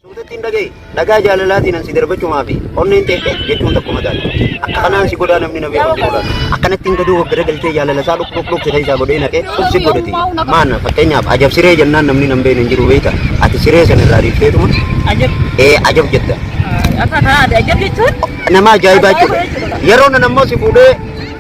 Suutattiin dhaga'i. Dhagaa jaalalaatiin an si darbachumaa fi onneen teessee jechuun tokkuma taate. Akka kanaan si godhaa namni na beeku tuulaan. Akkanattiin gaduu of garagalchee jaalala isaa dhuk dhuk dhuk siree isaa godhee naqee dhuk si godhati. Maana fakkeenyaaf ajab siree jennaan namni nan beekne hin jiru beekta. Ati siree sana irraa dhiifteetuma Ajab. ee ajab jetta. Akka kanaa ajab jechuun Nama ajaa'ibaa jechuudha. Yeroo nan ammoo si fuudhee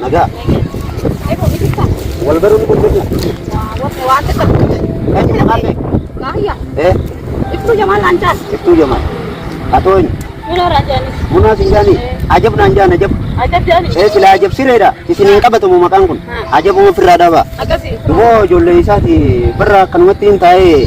Nagaa. Ebo bitika. Wal baruu ni dandeenya. Wabbe waan akka qabu. Eenyu maqaan kee? Kaayya. Eh, Ibsu jamaan naan jaas. Iftuu Jamal. Atoo eenyu? Minoo raajaanis. Munaa sin jaanii? Ajab naan jaan ajab. Ajab jaanis. Eh, silaa ajab sireedha. Isin hin qabatamu maqaan kun. Ajabuma ofirraa dhaabaa. Akkasii. Dumoo ijoollee isaati barra akkanumatti hin taa'ee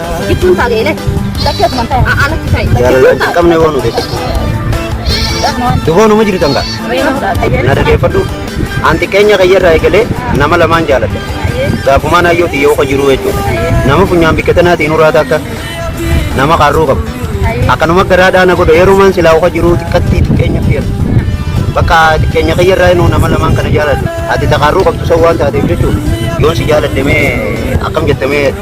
Gidduun taate elee. Lakkee asumaan ta'e. Alatti ta'e. Jaalalaa hin qabne waan nuti. Duboo numa jirtan gaa. Na dhageeffadhu. An xiqqeenya kayyarraa eegalee nama lamaan jaaladha. Gaafumaan hayyooti yoo ka jiruu jechuudha. Nama funyaan bikka tanaatiin uraata akka nama qarruu qabu. Akkanuma garaa dhaana godha yerumaan silaa uka jiruu xiqqatti xiqqeenya fiyatu. Bakka xiqqeenya kayyarraa inuu nama lamaan kana jaaladha. Ati taqarruu qabdu san waan taateef jechuudha. Yoon si jaaladhe mee akkam jettamee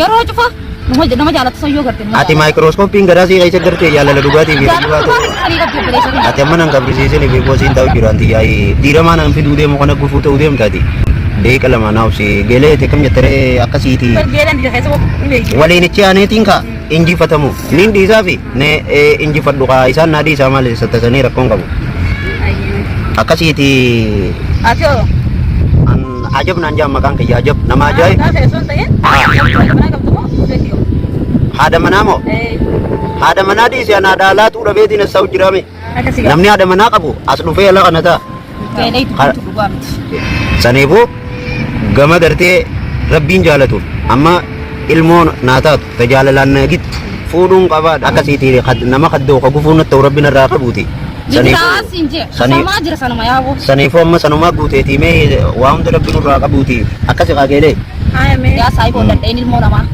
Yeroo cufa nama nama jaalatu san yoo garte nama Ati maayikirooskooppiin garaa sii keessa gartee jaalala dhugaatii fi jaalatu. dhugaatii. Dhugaatii sanii qabdi obboleessa kiyya. Ati amma nan gabrisiisin fi boosiin ta'u jiru anti yaa'i diiramaa nan fiduu deemu kana gufuu ta'uu deemtaati. Deeqa lama naaf si geelee ta'e kam jettaree akkasiiti. Bargeelan dira keessa hin beeku. Waliinichi aaneetiin kaa injifatamu niin dhiisaa fi Ne ee injifadhu kaa isaan naa dhiisaa maal isa tasanii rakkoon qabu. Ayyuu. Akkasiiti Ati hoo? an ajab naan jaa maqaan kiyya ajab nama ajaa'ib. Gaafa osoo hin ta'in. Manaa qabdu moo? Beekti hoo? Haadha manaa moo? Ee. Haadha manaa dhiisee an haadha alaatuu dhabeetiin as sa'u jiraame. Namni haadha manaa qabu as dhufee ala kana ta'a. Saniifuu gama gartee rabbiin jaalatuuf amma ilmoo naa taatu ta jaalalaan na gittu fuudhuun qabaa akkasiiti kad- nama kaddoo ka gufuu natti ta'u rabbiin irraa qabuuti. Saniifuu amma sanumaa guuteetii mee waa hunda rabbiin irraa qabuuti akkasi qaageelee. Haaya mee. Yaa saayiboo dandheen ilmoo namaa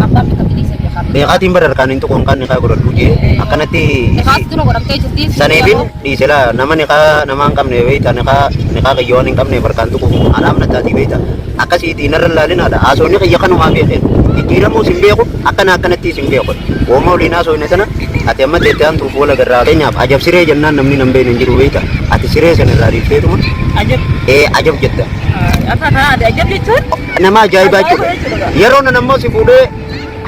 abbaa fi kakilee isa bira qabu. Beekaatiin bara harkaan hin tuquun kan nikaa godhadhu jee akkanatti Nikaas dura godhamtee jirti. saniifin dhiisela nama nikaa namaa hin qabne beeyta nikaa nikaa kiyya waan hin qabne barkaan tuquuf anaaf nattaatii beeyta akkasiitii narra laalinaadha haasofni kiyya kanumaa beekeen jijjiiramuu sin beeku akkana akkanatti sin beeku wooma waliin haasofne sana ati amma teettee hantuuf wal agarraa keenyaaf ajab siree jennaan namni nan beekne hin jiru beeyta ati siree sana irraa dhiifteetuma Ajab. ee ajab jetta Afaan kanaa adda ajab jechuun Nama ajaa'ibaa jechuudha. Yeroo nan ammoo si fuudhee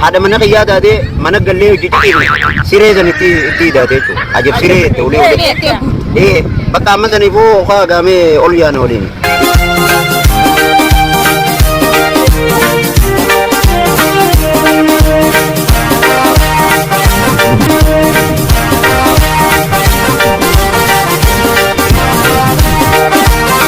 haadha mana kiyyaa taatee mana gallee hojii ciqiin siree san itti itti hidhaatee jechuudha. Ajab siree itti ulee ulee. Ee bakka amma saniifuu hokaa gaamee ol yaana waliin.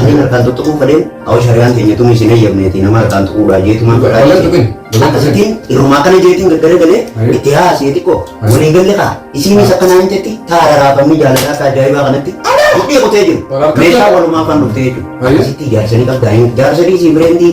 Anin harkaan tuttuquu fadheen hawwa shari'aan keenya tun isin eeyyamneeti nama harkaan tuquudhaan jeetumaan Wal- walan tuqin. Akkasitiin dhirumaa kana jeetiin gaggaragalee Ayi. itti haasee xiqqoo Ayi. waliin galle kaa isiinis akka naan jetti taara raafamni jaalalaa akka ajaa'ibaa kanatti mudhii kutee jiru Wal harka meeshaa tuqin. walumaa kan dhuftee jiru Ayi. akkasitti jaarsanii qabdaa jaarsadii sii bireendii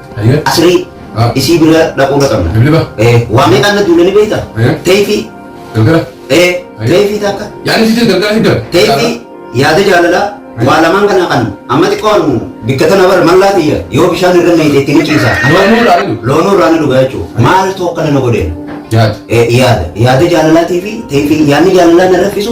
Ayyee. Asirii Ah. isii bira dhaquu dhaqabna. Bibliba. Eh, waa meeqaan na duula ni beekta? Eh. Teeyfii. Galgala. Eh, Ayyee. teeyfii takka. Yaadni sitti galgala hidda. Teeyfii yaada jaalalaa waa lamaan kana kan amma xiqqoon bikka tana bara mallaa tiyya yoo bishaan irra meeyte itti ni ciisa. Loonuu irraa ni dhuga. Loonuu irraa ni dhuga jechuudha. Maaltu akkana na godheen? Yaad. Eh, Yaada. Yaada jaalalaatii fi teeyfii yaadni jaalalaa na rakkisu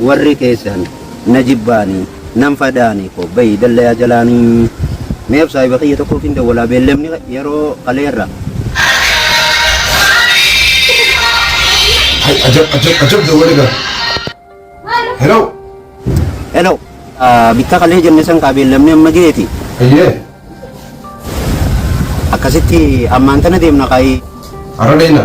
Warri keessan na jibbaani nan fadaani ko bayi dallayaa jalaani mee of saahiba kiyya tokkoofin dawwalaa beellamni yeroo kaleerra. Hay ajab ajab ajab dawwale gaa. Hello. Hello. Ah, Bitta kalee jenne san kaa beellamni amma geeti. Ayyee. Akkasitti ammaan tana deemna kaayii. Har'a deemna.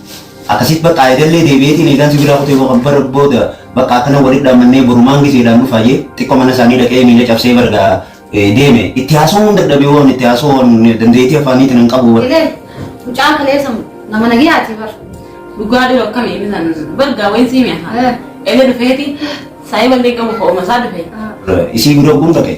Akkasit baqqa eegallee deebi'eetiin eegaan sibiilaa kutee boqan bara booda baqqa akkana walitti dhaammannee borumaan gizeedhaan dhufaa jee xiqqo mana isaanii dhaqee miila cabsee bar gaa deeme itti haasawuun dadhabee waan itti haasawoon dandeetii afaaniitiin hin qabu bar. Ilee mucaan kaleessa nama nagiyaatii bar. Dhugaa dhiyoo akkamii bisan bar gaa wayin siimee haa. Elee dhufeeti saayii ballee qabu ho'uma isaa dhufee. Isii gudoo kun dhaqee.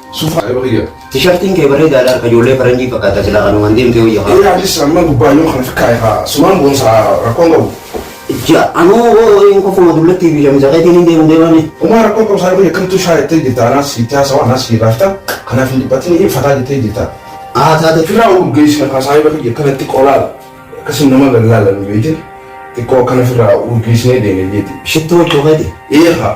Sufa yeroo kiyya. Tishartiin kee bareedaadha harka ijoollee faranjii fakkaata silaa kanumaan deemtee wayya haa. Ilaa anis amma gubbaa yoo kana fikkaa'e haa sumaan boonsaa rakkoon qabu. Ja anuu hoo'iin kofuma dullattii fi shamisa keetiin hin deemu deemame. Umaa rakkoon qabu isaa biyya kamtuu shaa jettee jirta anaas itti haasawaa anaas itti raafta kanaaf hin dhiphatin hin fataa jettee jirta. Haa taate. Firaa urgeessina kaasaayi bakka jira kanatti qolaala akkasii nama gallaala nu beekte xiqqoo akkana firaa urgeessinee deemee jeeti. Shittoo jechuun keeti. Eegaa.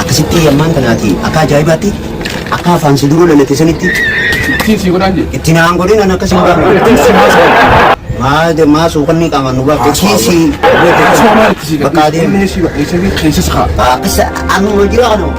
Akkasitti yammaan tanaati akka ajaa'ibaatti akka afaan si duruu lalate sanitti Ittiin sii godhaan jedhe. itti naan godhin an akkasii hin baafne. Maa maa suukanni qaamaan nu baafte kiisii bakka adeemu. Keessas kaa. Akkasa anuma jira kanuma.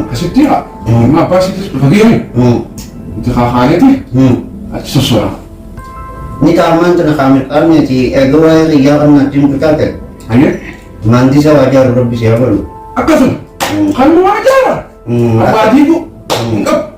Akkasitti haa ilma abbaa isiitis dhufa geeme itti kaakaaneeti achi sossoora. Ni taamaan tana kaamil qabneeti eega waa'ee xiyyaa kan natti himtu taate Hayyee maandisa waa jaaru rabbi si haa godhu. akkasuma kan nu waa jaara abbaa diiguu hin qabu.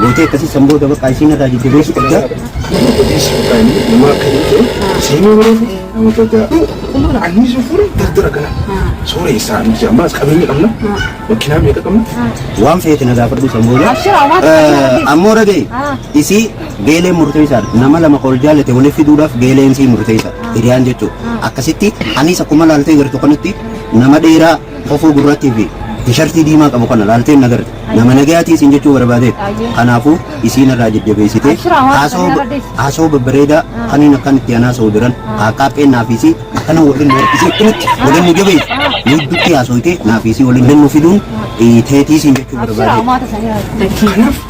Gootee akkasii san booda baqaa isiin irraa jajjabeessu qabda. Nama akka hin ta'e seenuu yeroo fi nama gadaa. Ummaan anniisuu fuudhee daldala kana. Soora isaa nuti ammaas qabeenya qabna. Makiinaa meeqa qabna? Waan feete na gaafadhu san booda. Ammoo ragee isii geeleen murteessaadha. Nama lama ol jaallate walitti fiduudhaaf geeleen sii murteessa. Hiriyaan jechuudha. Akkasitti anis akkuma laaltee jirtu kanatti nama dheeraa Kofoo gurraattii fi tishartii diimaa qabu kana laaltee hin agarre. Nama nagayaatii isiin jechuu barbaadeet. Kanaafuu isiin irraa jajjabeessitee Abshir, hawaasa haasoo kana irra deessi. haasoo babbareedaa kaniin akkan itti anaa sa'u jiran haaqqaaqqeen naafiisii akkana waliin warqisii akkamitti waliin nu jabeessu. Nuudduutti haasooytee naafiisii waliin hin nu fiduun teetii isiin jechuu Abshir, barbaadee. hawaasa sana irra deessi.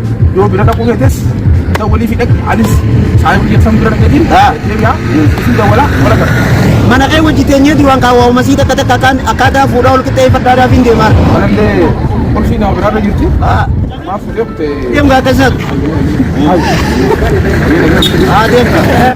Yoo bira dhaquu feetes isa walii fi dhaqi anis saayibu jettan bira dhaqeetiin deebi'a isin dawwala wala gara. Mana kee wajji teenyeeti waan kaawwaa umasii takka takka akkaan akkaataa fuudhaa ol qixxee fadhaadhaa fi deemaa. Kanallee qulfii nama biraa irra jirti. Maaf fuudhee kutee. Deemgaa akkasitti. Haa deemgaa.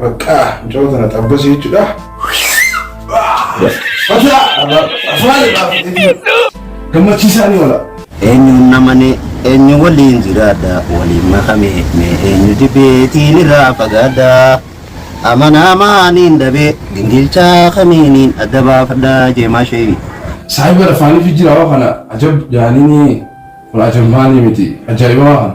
Baqqaa mucaa tana xabbasi jechuudha. Gammachiisaa ni oola. Eenyuun namane eenyu waliin jiraadha waliin makame mee eenyu dibeetiin irraa fagaadha. Amanaa maaniin dhabee gingilchaa kamiiniin adda baafadha jeemaa sheeyi. Saayiba lafaanii fi jiraawaa kana ajab jaaniini kun ajab maanii miti ajaa'ibamaa kana.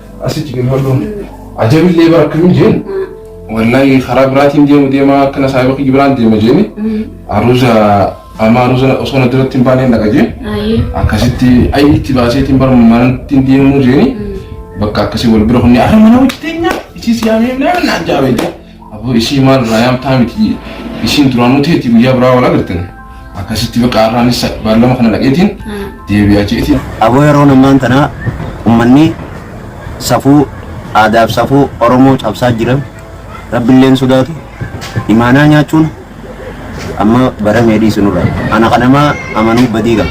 Asitti gadi hodhuun ajabillee bara akkamiin jeen wallahi karaa biraatiin deemu deema akkana saayiba kiyya biraan deema jeeni aruuza amma aruuza osoo na duratti hin baaneen dhaqa jeen Ayi. akkasitti ayi itti baaseetiin bara manatti hin deemuu jeeni bakka akkasii wal bira kunni ara mana hojjeteenyaa isii siyaamee naan jaabe jeen Aboo ishii maal irraa yaamtaa miti ishiin duraanuu teetti guyyaa biraa wal agartan akkasitti baqa arraanis baallama kana dhaqeetiin deebi'aa jeetiin. Aboo yeroo ammaan tanaa ummanni safuu aadaaf safuu Oromoo cabsaa jira. Rabbilleen sodaatu imaanaa nyaachuun Amma baramee dhiisu nurra. Ana kan namaa amanuu badii qaba.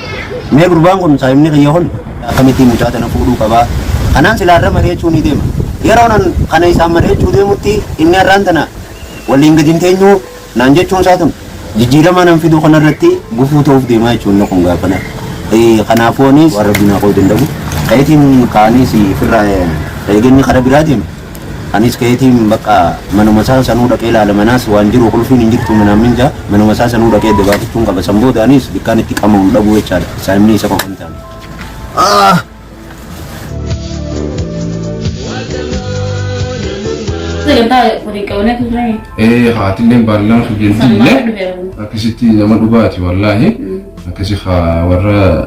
Mee gurbaan kun saahibni kiyya kun akkamittiin mucaa tana fuudhuu qaba? Kanaan silaa irra mari'achuu ni deema. Yeroon an kana isaan mari'achuu deemutti inni har'aan tana waliin gadi hin teenyu naan jechuun isaa tun jijjiirama nan fiduu kanarratti gufuu ta'uuf deemaa jechuun inni kun gaafana. Eh, Kanaafuu anis waan rabbiin haa koo danda'u. Ka'itiin kaaniis firraa eeganni karaa biraa deema. Anis ka'eetiin bakka manuma isaa sanuu dhaqee ilaala manaas waan jiru qulfiin hin jirtu manaan minja manuma isaa sanuu dhaqee adda baafachuun qaba san booda anis bikkaan itti qama'uun dhabuu jechaadha saayimni isa qofa hin taane. Ah! Sagantaa waliin qabannee turre. Ee haatilleen baallaan Sana hojjettillee maal dhufeera? akkasitti nama dhugaati wallaahi akkasi haa warra